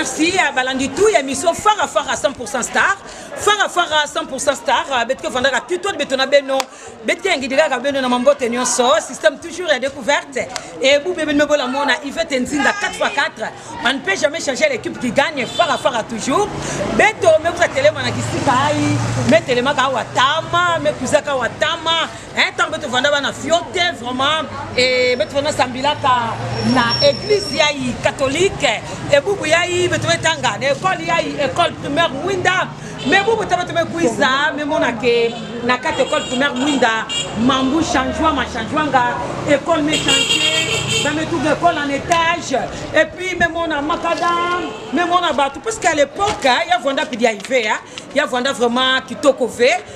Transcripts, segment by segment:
merci à balandi tout ya mission fara fara 100% star fara fara 100% star betike vandaka tuto betona beno beti ya ngidi kaka bino na mambote nyonso système toujours ya découverte et bube bino bolamona ivete nzinga 4 x 4 on ne peut jamais changer l'équipe qui gagne fara fara toujours beto mekuza telema na kisika ai metelemaka awa tama mekuzaka awa tama ntango beto vanda bana fio te vraiment e beto vanda sambilaka na église yai catholique ebubu yai beto betanga na ekole yai ekole primaire mwinda mais bobo taba taba kuiza me mona ke na kati école primaire mwinda mambu changement ma changement nga école me changer ba me trouve école en étage et puis me mona makadam me mona bato parce qu'à l'époque ya vanda pidi ya ive ya vanda vraiment kitoko ve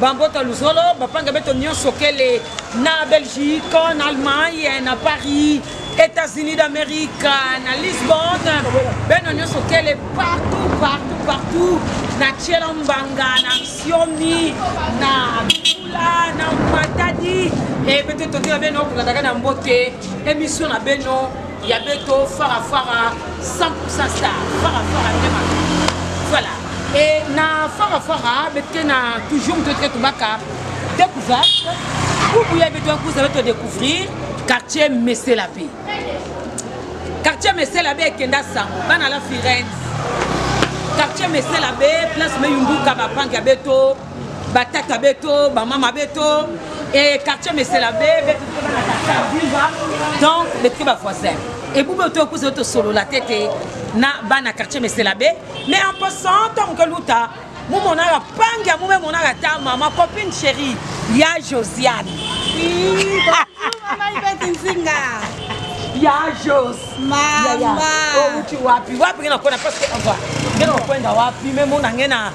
bambota luzolo bapanga beto nyonso kele na belgique na allemagne na paris états-unis d'amérique na lisbonne beno nyonso kele partout partout partout na tiela mbanga na siomi na bula na matadi e eh, bete tondela beno kokataka na mbote emission na beno ya beto fara fara 100% star fara fara nde makambo voilà e na fara fara bete na toujours moto ete tobaka découverte kubu ya beto yankuza beto découvrir quartier mesela mpe quartier mesela mpe ekenda sango bana la firenze quartier mesela mpe place meyumbuka bapange ya beto batata beto bamama beto e quartier mesela be betotobanaaa donc betoke bavoisin ebube oto okuza yo tosolola te te na bana quartier mesela be mais en passant ntango ke luta momonaka pangi ya mome monaka ta mama copine chérie ya josiane ya jos mama outi wapi wapi nge nakona parce que ngena okwenda wapi me mona nge na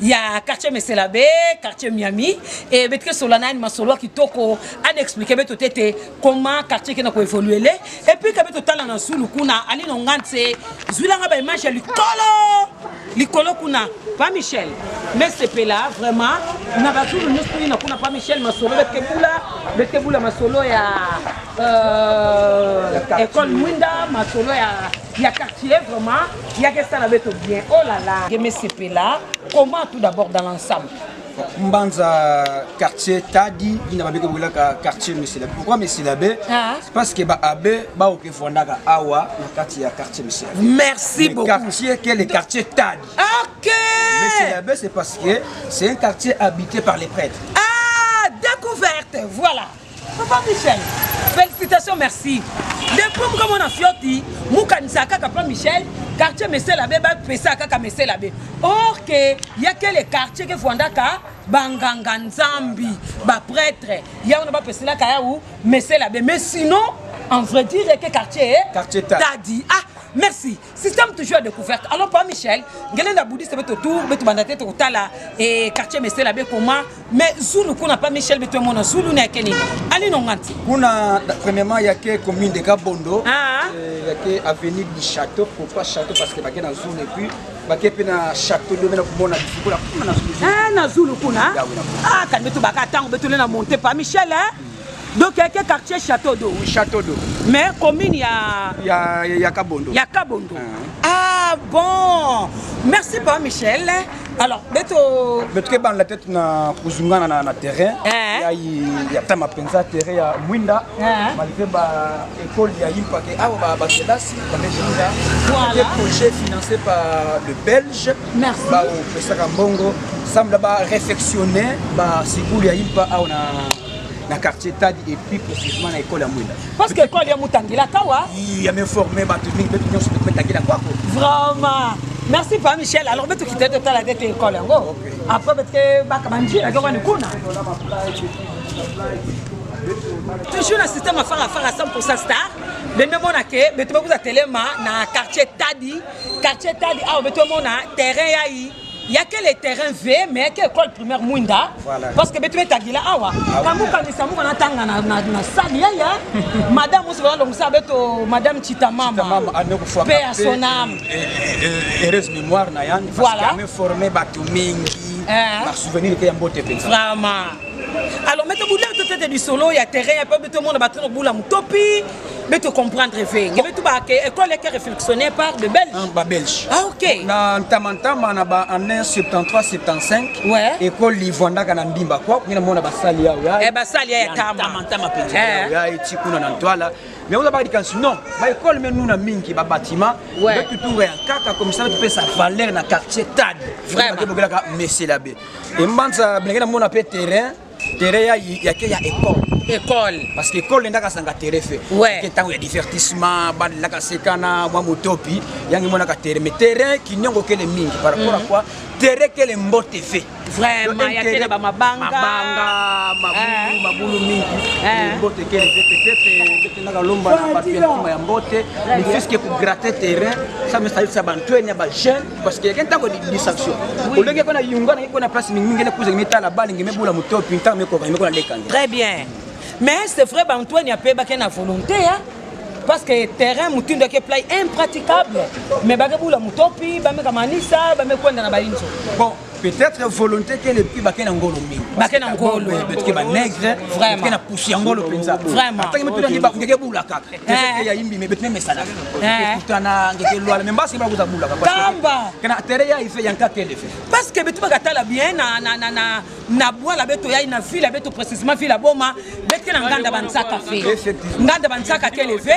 ya quartier meselabe quartier miami e betike sola nani masolo kitoko ana explike beto te te comment quartier ekenda koevolue le epuis kabe totala na zulu kuna ali na nga nse zwilanga baimage ya likolo likolo kuna pa michel mesepela vraiment na bazulu nyonso toni na kuna pa michel masolo bekebula bekebula masolo ya euh, école mwinda masolo ya ya quartier vraiment yaka esala beto bien oh là là keme sepela comment tout d'abord dans l'ensemble mbanza quartier tadi bina babeke boyelaka quartier meselabe pourquoi meselabe ah. parce que baabe baoke fondaka awa na kati ya quartier meselabe merci beaucoup quartier ke le quartier tadi ok meselabe c'est parce que c'est un quartier habité par les prêtres ah découverte voilà Papa Michel, félicitations, merci. Depuis muka mona fioti, muka nisaka papa Michel, quartier Messela be ba pesa kaka Messela be. Or que il y a quel quartier que Fondaka banganga nzambi, ba prêtre, ya ona ba pesela kaya ou Messela be. Mais sinon, en vrai dire que quartier quartier Tadi. Ah, merci. système toujours ya découverte alors pa michel ngele na boudiste beto tour beto banda te tokotala e quartier mesela be koma mais zulu kuna pa michel beto emona zulu na yake nini ali nonganti kuna premièrement yake commune de kabondo ah. euh, yake avenue du château pourquoi château parce que bake na zulu et puis bake mpe na château nde omena komona bifukula kuna na zulu ah, na zulu kuna ah, kani beto baka ntango betole na monte pa michel eh? donc eke quartier château d'eau oui, château d'eau mais commune ya ya ya kabondo ya kabondo ah, ah bon merci pa michel alors beto beto kebana la tête na kuzungana na, na terrain eh. ya ya tama penza terrain ya mwinda eh. malgré ba école ya yimpa ke awa ba ba kelasi ba mejenga voilà projet financé par le belge merci ba pesaka mbongo semble ba réfectionner ba sikulu ya yimpa awa na na quartier tadi et plus précisément na école ya mwinda parce que école ya mutangila kawa ya me former bato mingi mpe nyonso mpe tangila kwako vraiment merci pa michel alors mpe tokite totala te te école yango après betike bakaba njila ke wani kuna toujours na système afarafara 100 star bembe mona ke beto bakuza telema na quartier tadi quartier tadi awa beto mona terrain yai ya ke le terrain v mais ya ke école primaire mwinda parce que betu betagila awa ah kangukanisa muka natanga na sale yaya madame oso balalongisa beto madame chitamama mpe ya sonam heureuse mémoire na yani voilà formé bato mingi eh. basouvenir mpe ya mbote mpenza vraiment alors mete buleto tete lisolo ya terrain ya mpe betomona bato na bula motopi Mais tu comprends très bien. Mais tu vas que l'école est réflexionné par de Belges. Ah, bah, Belge. Ah, ok. Na Ntamantama, na ba en 173 75. Ouais. École Livanda kana mbimba quoi. Kuna mona ba sali ya. Eh ba sali ya tama. Ntamantama penza. Eh. Ya eti kuna na ntwala. Mais on a pas dit que non. Ba école mais nous na mingi ba bâtiment. Ouais. Mais tout rien kaka comme ça tu peux sa valeur na quartier Tad. Vraiment. Ba bogela ka Messi Labé. Et mbanza bengena mona pe terrain. terrain ya ya ke ya école école parce que école ndaka sanga terrain fe ouais. ke tango ya divertissement ba ndaka sekana mwa motopi yangi mona ka terrain mais terrain kinyongo kele mingi par rapport mm -hmm. à mhm. quoi terrain kele mbote fe vraiment ya kele ba mabanga mabanga mabulu eh. mabulu mingi eh. mbote kele fe peut-être ndaka lomba na ba ya mbote mais puisque pour gratter terrain ça me ça ça bantu ya ba jeunes parce que yake ntango distraction olongi ekona yunga na ekona place mingi mingi ekuza ngime tala bali ngime bula motopi ntango mekoka ngime kona leka ngi très bien mais c'est vrai ba Antoine ape ba kena volonté hein parce que terrain motindo yake play impraticable mais bake bula motopi bameka manisa bamekwenda na bainzo bon peut-être volonté te lepi bake na ngolo mingi bake na ngolo betike ba nègre vraiment na pousse ya ngolo penza vraiment ataki mutu ngi ba ngeke bula kaka te ya imbi mais betime mesala kutana ngeke lwala mais mbasi ba kuza bula kaka kamba kana tere ya ife yanka kende fe parce que betu baka tala bien na na na na na bwala beto ya na ville beto précisément ville boma betike na nganda ba nsaka fe nganda ba nsaka kele fe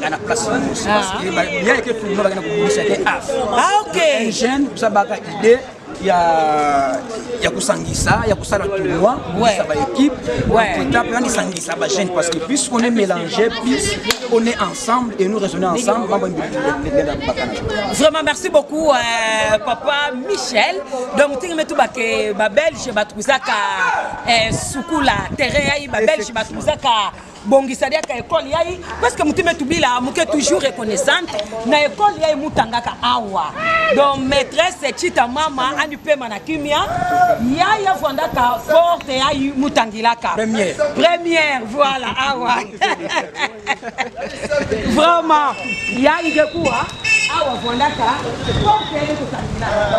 nga na place mosi ah. parce que bien que tout le monde akenda kobongisa te af ah ok un jeune kusabaka idée ya ya kusangisa ya kusala tournoi kusa ba équipe etap nani sangisa ba jeune parce que plus on est mélangé plus on est ensemble et nous raisonner ensemble mambo ndela bakana vraiment merci beaucoup euh, papa Michel donc tingi metu ba ke ba belge ba tuzaka euh, sukula terrain ya ba belge ba tuzaka bongisa liaka ekole yai parceke motima etubila moke toujours reconnaissante na ekole yai mutangaka awa donc maîtresse chita mama anipema na kimia yai avandaka porte yai mutangilaka première, première voilà awa vraiment yai dekuwa awa avandaka porte yai mutangilaka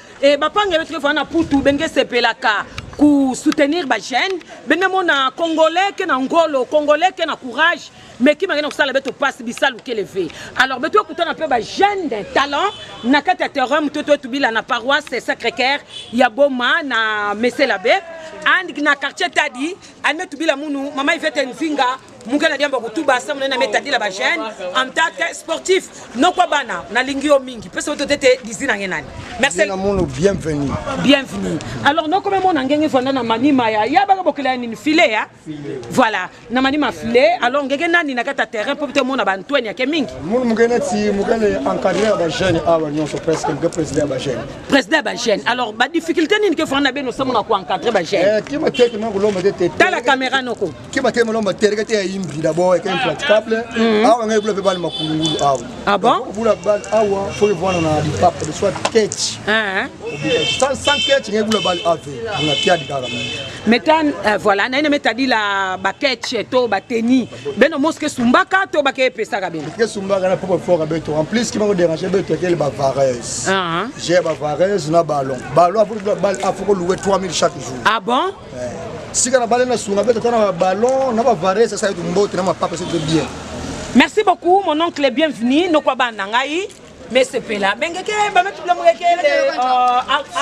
Et bapanga yo tukefa na putu benge sepelaka ku soutenir ba jeune benge mona congolais ke na ngolo congolais ke na courage mais ki mangena kusala beto passe bisalu ke levé alors beto kutana pe ba jeune de talent na kati ya terrain mutu to tubila na paroisse sacré cœur ya boma na meselabe and na quartier tadi ane tubila munu mama ivete nzinga mungela diamba kutuba asa munene ametadila ba jeune en tant que sportif nokwa bana nalingi yo mingi pesa oto tete dizi na nge nani merci na mono bienvenue bienvenue alors noko me mona ngenge vanda na manima ya ya baka bokela nini filet ya voilà na manima filet alors ngenge nani na kata terrain po te mona ba Antoine ya ke mingi mono mungena ti mungena encadrer ba jeune awa ah, nyonso presque nge président ba jeune président ba jeune alors ba difficulté nini ke vanda beno samona ko encadrer ba jeune eh kima tete na kulomba tete tala caméra noko keba te molomba tereke te ya imbi d'abord eke impraticable mhm. awa ngai bula mpe bana makulungulu awa ah bon bula bana awa fo evwana na lipapa de soit ketch ah. sans sans ketch ngai bula bana ave na piadi kaka metan euh, voilà naine metadi la ba ketch to ba teni beno moske sumbaka to ba ke pesaka beno ke sumbaka na poko fora beto en plus ki mako déranger beto ke ba vareuse ah j'ai ba vareuse na ballon ballon apo bula bana apo ko louer 3000 chaque jour ah bon sika na bale na sunga beta tana ballon na ba vares sasa yetu mbote na mapapa c'est bien merci beaucoup mon oncle bienvenue nokwa bana ngai mesepela bengeke bametula mokeke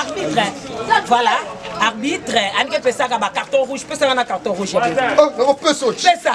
arbitre voilà arbitre anike pesaka ba carton rouge pesaka na carton rouge nakopesa oh, pesa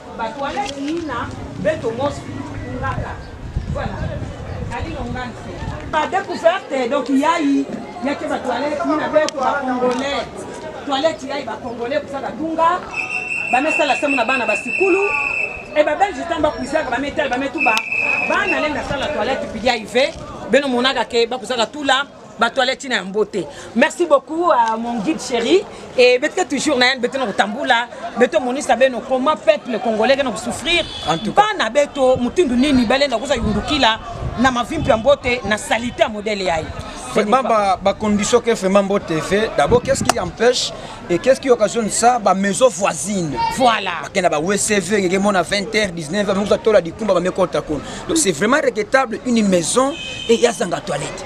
Ba toilettes ina beto mosi ngaka. Voilà. Ali longanse. Ba découverte donc yayi yake ba toilettes ina beto ba congolais. Toilettes yayi ba congolais kusaka dunga. Ba mesala semu na bana ba sikulu. Et ba belge tamba kusaka ba metal ba metuba. Bana lenga sala toilette pili ya ive. Beno monaka ke ba kusaka tula. bato aleti na yango te merci beaucoup uh, mon guide chéri e betike toujours na yani betena kotambula beto monisa beno comment peuple congolais kena kosouffrir bana beto motindo nini balenda koza yundukila na mavimpi ya mbote na salite ya modele yaye vraiment ba, ba condition que vraiment mbo TV d'abord qu'est-ce qui empêche et qu'est-ce qui occasionne ça ba maison voisine voilà bakenda ba WCV ngeke mona 20h 19h moko tola dikumba ba mekota kuna donc c'est vraiment regrettable une maison et ya zanga toilette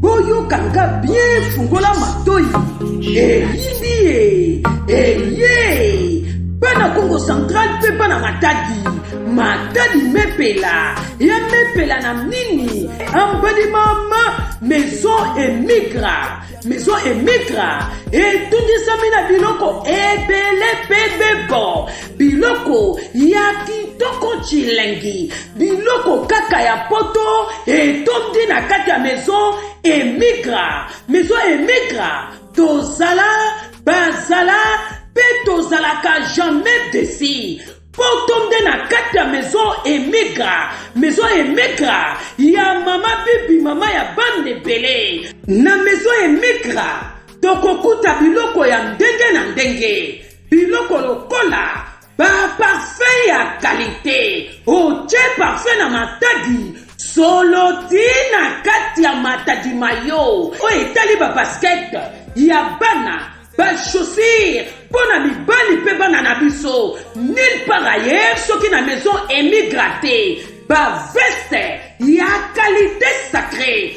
boyoka nga bien fungola matoi eyindi ye eye bana kongo central mpe bana matadi matadi mepela ya mepela na nini ambali mama maison emigra maison emigra etundisami na biloko ebele mpe bebo Biloko ya kitoko chilengi, biloko kaka ya poto etondi na kati ya maison emigra. Maison emigra, tozala, bazala, pe tozalaka jamais desi. Poto nde na kati ya maison emigra, maison emigra ya mama bibi, mama ya bana ebele. Na maison emigra tokokuta biloko ya ndenge na ndenge. biloko lokola baparfe ya kalite otye parfe na matadi solo ti na kati ya matadi mayo oyo etali babaskete ya bana bashosire mpo na mibali mpe bana na biso nil par ailleurs soki na maison emigrate baveste ya kalite sacre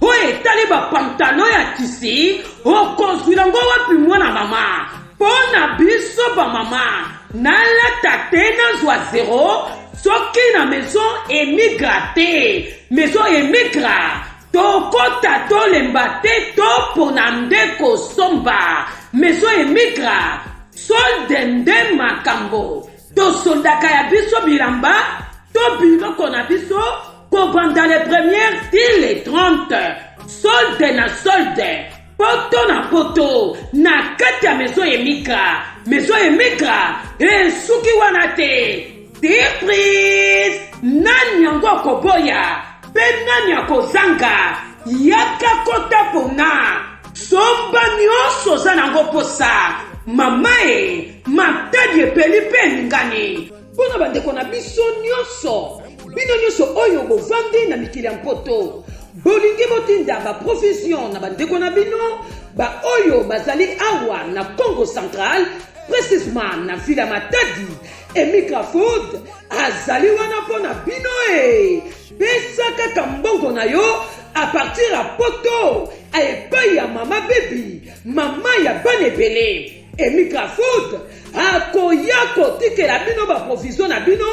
Oyo etali bapantalo ya tisi, okozwila yango wapi mwana mama? Mpo na biso bamama, nalata te nazwa zero soki na maison emigra te. Maison emigra tokota tolemba te topona nde kosomba. Maison emigra solde nde makambo. Tosondaka ya biso bilamba to biloko na biso kobanda le premier ti le 30 solde na solde poto na poto na kati ya mezo emika mezo emika esuki wana te surprise nani yango akoboya mpe nani akozanga yaka kota pona somba nyonso oza nango mposa mama e matadi epeli mpe eningani mpo na bandeko na biso nyonso bino nyonso oyo bovandi na mikili ya mpoto bolingi botinda baprovision na bandeko na bino baoyo bazali awa na congo central precisement na vila matadi emigrafood azali wana mpo na bino e pesa kaka mbongo na yo a partir ya poto epai ya mama bebi mama ya bana ebele Emikafoot akoya kotikela bino baprovision na bino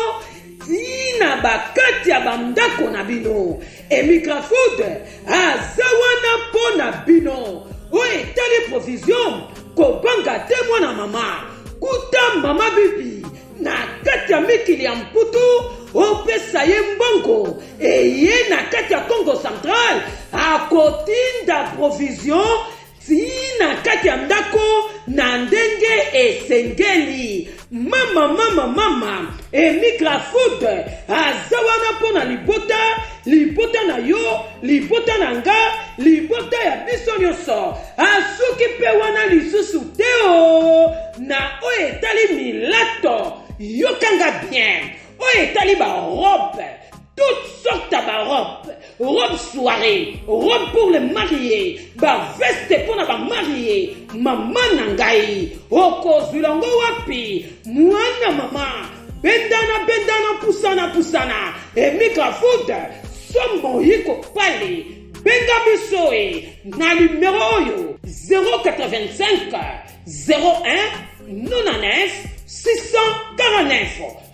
tina bakati ya bandako na bino emigrafood aza wana mpo na bino oyo etali provision kobanga te mwana mama kuta mama bibi na kati ya mikili ya mputu opesa ye mbongo eye na kati ya congo central akotinda provision tii na kati ya ndako na ndenge esengeli. Mama, mama, mama, Emikra Food aza wana mpo na libota, libota na yo, libota na nga, libota ya biso nyonso. Asuki mpe wana lisusu te o na oyo etali milato, yokanga bien, oyo etali barobe toutes sortes ya barobe robe soirée robe pour le marie baveste mpo na bamarie mama na ngai okozwila ngo wapi mwana mama bendana bendana pusana pusana emika food sombo yiko pale benga biso e na nimero oyo 085 01 99 649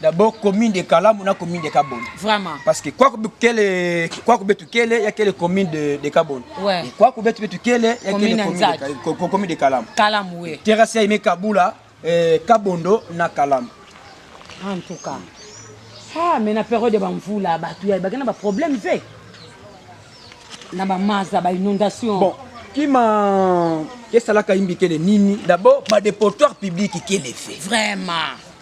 d'abord commune de Kalamu na commune de Kabon. Vraiment. Parce que quoi kele quoi kubetu kele il y a kele commune de de Kabon. Ouais. Et quoi kubetu betu kele il y a kele commune de commune de Kalamu. Kalamu oui. Terrasse ya Kabula euh, Kabondo na Kalamu. En tout cas. Ah mais na période ba mvula batu ya bakena ba problème ve. Na ba maza ba inondation. Bon, kima kesalaka imbi kele nini? D'abord ba dépotoir public kele fait. Vraiment.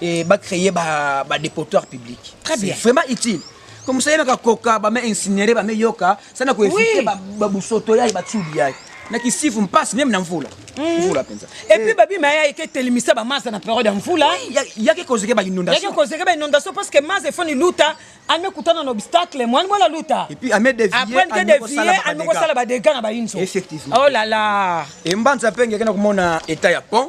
et ba créer ba ba dépotoir public. Très bien. C'est vraiment utile. Comme ça yaka koka ba me incinérer ba me yoka, ça na ko éviter ba ba busoto ya ba tsubi ya. Na kisifu mpasse même na mvula. Mm. Mvula penza. Et puis babi ma ya ke telimisa ba masa na période ya mvula. Ya ke kozeke ba inondation. Ya ke kozeke ba inondation parce que masa foni luta ame kutana na obstacle moi moi la luta. Et puis ame dévier. Après que dévier, ame ko sala ba dégâts na ba inso. Effectivement. Oh là là. Et mbanza penge kana komona état ya pont.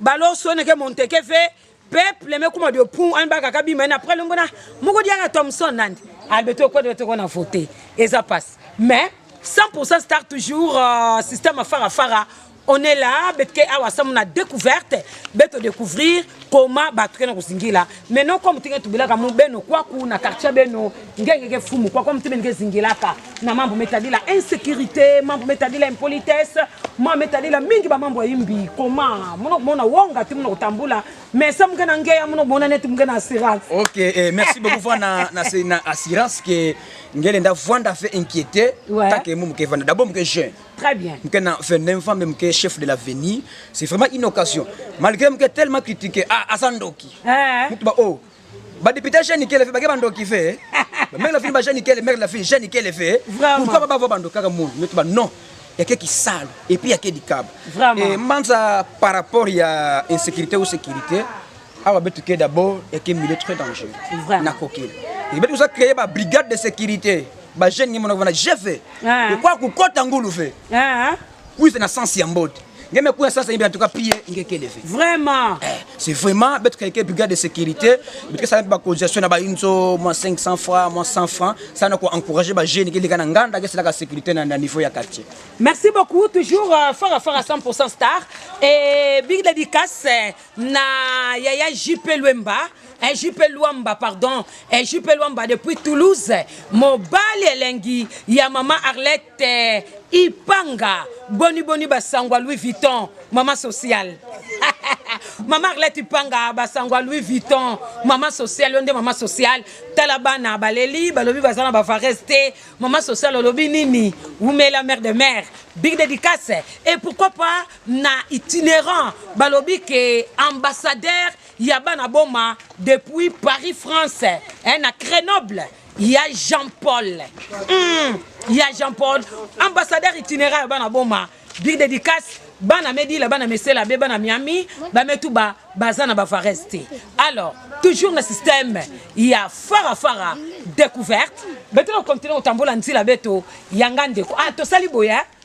balo sone ke monteke fe peuple me kuma de pun an baka ka bima après longo na moko diaka Thomson nandi albeto ko de to na voter eza passe mais 100% star toujours euh, système fara fara on est là betke awa samu na découverte beto découvrir comment batu kena kuzingila mais no comme tinge tubelaka mu beno kwaku na quartier beno ngenge ke fumu kwa comme tibe nge zingelaka na mambo metadila insécurité mambo metadila impolitesse mambo metadila mingi ba mambo yimbi koma mono mona wonga ti mono kutambula mais sa mungena nge ya mono mona neti mungena assurance OK eh, merci beaucoup voix na na na assurance que ngele nda vanda fait inquiéter ouais. tant que mumu ke vanda d'abord muke jeune Très bien. Mke na Fendem femme mke chef de l'avenir. C'est vraiment une occasion. Malgré mke tellement critiqué ah asandoki. Ah. Mtu ba oh. Ba député jeune kele fait ba ke bandoki fait. Ba mère la fille ba jeune kele mère la fille jeune kele fait. Pourquoi ba ba bandoki kaka monde. Mtu ba non. Ya ke kisalo et puis ya ke dikaba. Vraiment. Et manza par rapport ya insécurité ou sécurité. awa betu ke d'abord eke milieu très dangereux na kokela ebetu oza créer ba brigade de sécurité ba jeune ngi monoko na jefe ah. okwa kokota ngulu fe ah. kuize na sens ya mbote ngeme kuya sasa yebi en tout cas pie ngekele fe vraiment eh, c'est vraiment betu keke brigade de sécurité betu kesala ba cotisation na ba inzo moins 500 francs moins 100 francs ça na ko encourager ba jeune ke likana nganda ke selaka sécurité na niveau ya quartier merci beaucoup toujours euh, fara fara 100% star et big dédicace na yaya JP Luemba eh, JP Luamba pardon eh, JP Luamba depuis Toulouse mobali elengi ya mama Arlette eh, Ipanga boni boni basangwa Louis Vuitton mama sociale mama Arlette Ipanga basangwa Louis Vuitton mama sociale yo nde mama sociale tala bana baleli balobi baza na bavarese te mama sociale olobi nini wumela mère de mère big dédicace et pourquoi pas na itinerant balobi ke ambassadeur ya bana boma depuis Paris France eh, na Grenoble ya Jean Paul mm, ya Jean Paul ambassadeur itinerant ya bana boma big dédicace bana medila bana mesela be bana miami bametu ba baza na bavares te alors toujours na système ya farafara découverte betona continue kotambola nzila beto yanga ndeko ah tosali boye eh?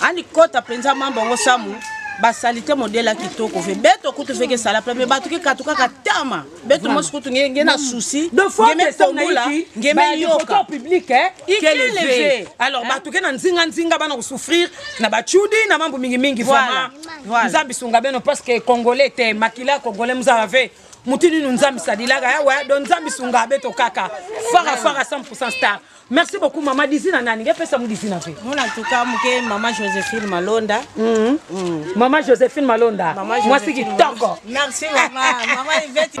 ani kota penza mamba ngo samu basalite modele ya kitoko ve beto kutu veke esala pe me bato kikatu kaka tama beto mosi kutu nge na souci ngemekobola ngemeyoka ikeleve alors bato ke na nzinga nzinga bana kosouffrir na bacudi na mambo mingimingi vraimen nzambe sunga beno parce que congolais te makila congolais mozala ve motu ninu nzambe sadilaka yawe eh, do nzambe sunga beto kaka fara fara 100 star Merci beaucoup maman Dizina nani ngai pesa mu Dizina pe. Mona tuka muke maman Josephine Malonda. Mm -hmm. mm. Maman Josephine Malonda. Mwasi kitoko. Merci maman. maman Yvette.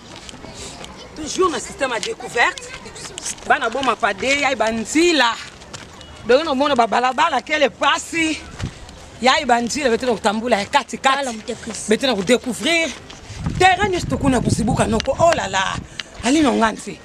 toujours na système ya découverte bana boma pade yai banzila dongi nomona babalabala kele pasi yai banzila bete na kotambula ya katikati bete na kodécouvrir terrain nyonso tokuna kozibuka noko olala oh ali nonga nse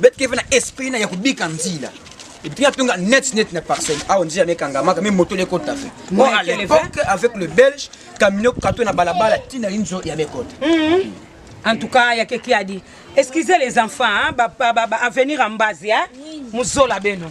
bet keve na esprit na ya kobika nzila epuis atonga net net na parcelle awa nzela na ekangamaka me moto lekota fe mo à l'époque avec le belge camino kato na balabala ntina inzo ya mekota mhm. en tout cas ya keki adi excusez les enfants hein, ba, ba, ba, ba avenir en base hein? muzola beno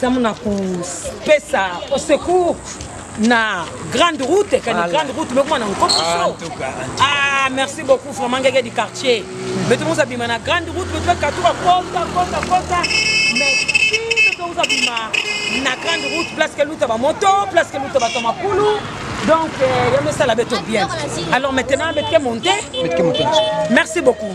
Samu na kopesa au secours na grande route kani voilà. grande route mekoma na nkopiso ah, ah merci beaucoup vraiment ngege du quartier beto moza bima na grande route beto bakatuka kota kota kota merci beto moza bima na grande route place ke luta bamoto place ke luta bato makulu donc euh, yamesala beto bien alors maintenant betke monte merci beaucoup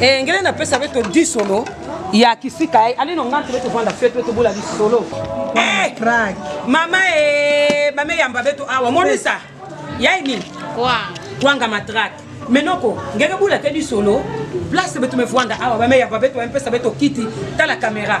Eh, ngele na pesa beto di solo ya kisika eh, ale no ngante beto vanda fete beto bola di solo eh crack mama eh ba me yamba beto awa monisa yaini kwa kwanga matrak menoko ngeke bula te di solo place beto me vanda awa ba me yamba beto mpesa beto kiti tala kamera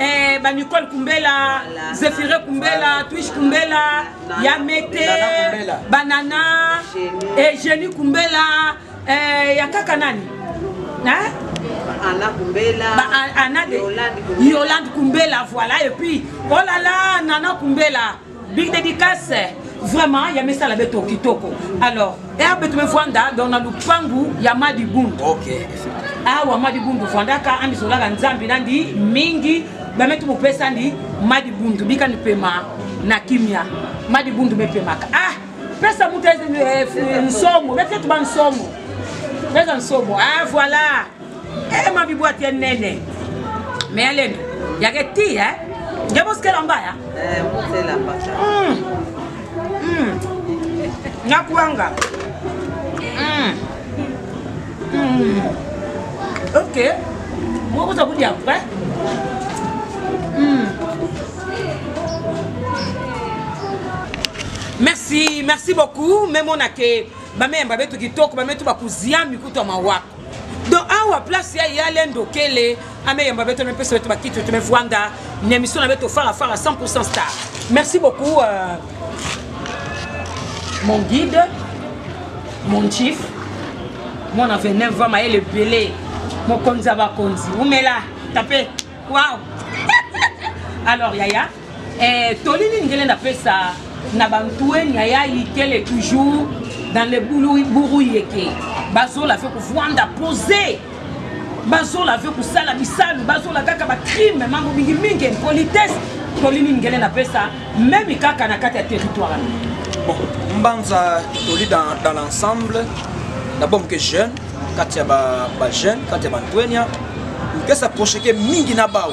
Eh, ba Nicole Kumbela, voilà. Zephyre Kumbela, Twitch Kumbela, voilà. Yamete, Banana, Eugenie Kumbela, eh, ya kaka nani? Hein? Anna Kumbela, ba, Anna de, Yolande Kumbela, voilà, et puis, oh là là, Nana Kumbela. Big dédicace vraiment ya misala beto kitoko alors herbe tumefwanda donc na lupangu ya madi bundu okay. awa madi bundu fwandaka amisolaka nzambe nandi mingi bameti mopesani madi bundu bikani pema na kimia madi bundu mepemaka ah pesa moto eh, nsomo betetu ba nsomo pesa nsomo ah voilà Eh ma bibu atie nene. Mais elle est ya ke ti hein. Ya boskela mbaya. Eh boskela mbaya. Mm. Mm. Nyakuanga. Mm. Mm. Ok. Moi vous avez dit après. Mm. Merci, merci beaucoup. Même on a que ba meme ba betu kitoko, ba metu ba kuziami kutu ma wako. donc awa place ya ya lendo kele ameyamba beto na pesa beto bakiti to mevwanga na emission na beto fara fara 100% star merci beaucoup euh, mon guide mon chief mwana veneur va mayele ebele mokonzi ya bakonzi umela tape wow alors yaya Eh, toli nini ngele napesa na bantueni ya ya ikele toujours dans le buru yeke bazola fe kuvwanda pose bazola fe kusala bisalu bazola kaka bacrime mambo mingi mingi impolitesse toli nini ngele napesa meme kaka na kati ya territoire bon mbanza toli dans, dans l'ensemble d'abord moke jeune kati ya bajeune kati ya bantuenia mpesa procheke mingi na bao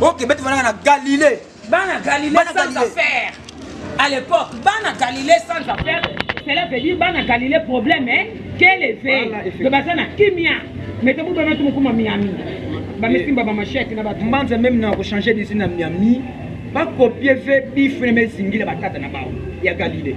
ok beti vanaka na galilée bana galilée sans affaire à l'époque bana galilée sans affaire cela veut dire bana galilée problème hein quel effet to baza na kimia mais to bobana to mokoma miami bamesimba bamashete na bato mbanza meme na kochange disi na miami bakopie ve bifre mezingila batata na bango ya galilée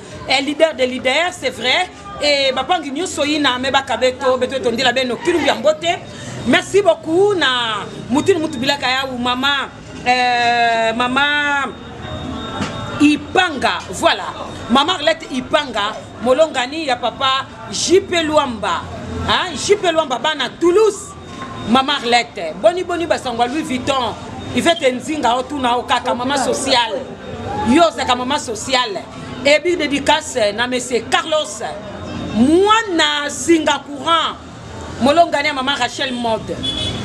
eh, leader de leader c'est vrai et eh, bapangi nyonso yina me bakabeto beto etondela beno kilumbi ya mbote merci beaucoup na mutini mutu bilaka yawu mama eh, mama ipanga voilà mama arlette ipanga molongani ya papa jipe lwamba jipe lwamba bana toulouse Mama Arlette, boni boni basangwa Louis Vuitton, Ivete Nzinga otuna o kaka mama sociale. Yo ozaka mama sociale. Et big dédicace na monsieur Carlos mwana singa courant molongani ya mama Rachel Mode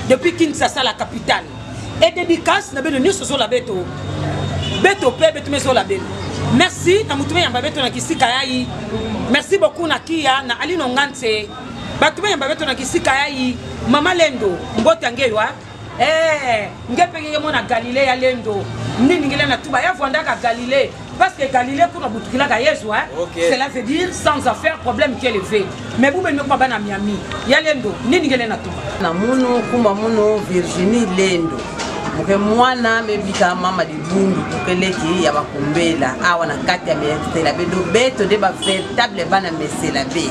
depuis Kinshasa la capitale. Et dédicace na bino nyonso zola beto. Beto pe beto mezola bino. Merci na mutume yamba beto na kisika yayi. Merci beaucoup na Kia na Alino Ngantse. bato bene babeto na kisika ya i mama lendo mbota ngelwa ee nge mpe ngenge mona galile ya lendo nini ngele na tuba ya vwandaka galile parce que galile kuna butukilaka yezu hein? okay. cela veut dire sans affaire problème qui élevé mais bubeni mekuma bana miami ya lendo nini ngele na tuba na munu kuma munu virginie lendo moke mwana mebika mama libundu tokeleki ya bakumbela awa na kati ya mesela be lobeto nde baveritable bana mesela be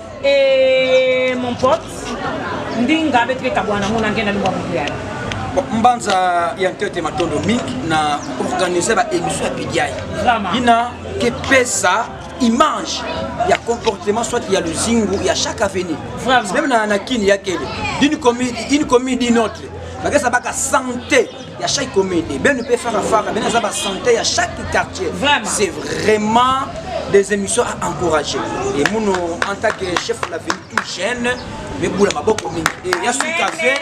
Et mon pote, ndinga beti bekabuana mona ngenda lingwa muyana. mbanza ya ntete matondo mingi na organise baémission ya pidiai ina kepesa image ya comportement soit ya luzingu ya chaque avenue meme na, na kini ya kele d'une commune, une commune d'une autre bakesa baka santé ya chaque commune et ben pe fara fara ben aza ba santé ya chaque quartier c'est vraiment des émissions à encourager et muno en tant que chef de la ville tout jeune mebula maboko mingi e ya sukafe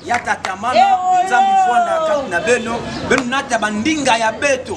ya tatamana nzambe fwanda kati na beno beno nata bandinga ya beto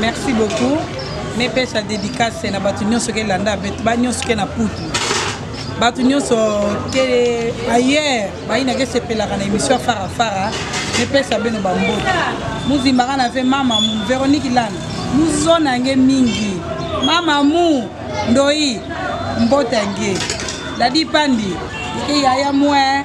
Merci beaucoup. Ne pêche à dédicace na batu nyonso ke landa bet ba nyonso ke na putu. Batu nyonso ke ailleurs ba ina ke sepelaka na émission fara fara. Ne pêche à beno bambo. Muzimba kana fait mama Véronique Lana. Muzona nge mingi. Mama mu ndoi mbota nge. Dadi pandi. Ke yaya mwe.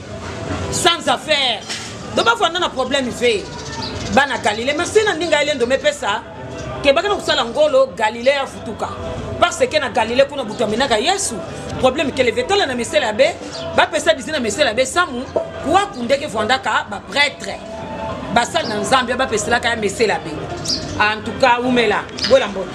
sans affaire donc bafanda na problème ve bana galile mais se na ndinga ye lendo mepesa kebaka na kosala ngolo galile ya futuka parce que na galile kuna butu amenaka yesu problème ke leve tala na mesele ya be bapesa dizi na mesele ya be samu kuaku ndeke vandaka bapretre basali na nzambe bapeselaka ya mesele ya be en tout cas umela bola mbote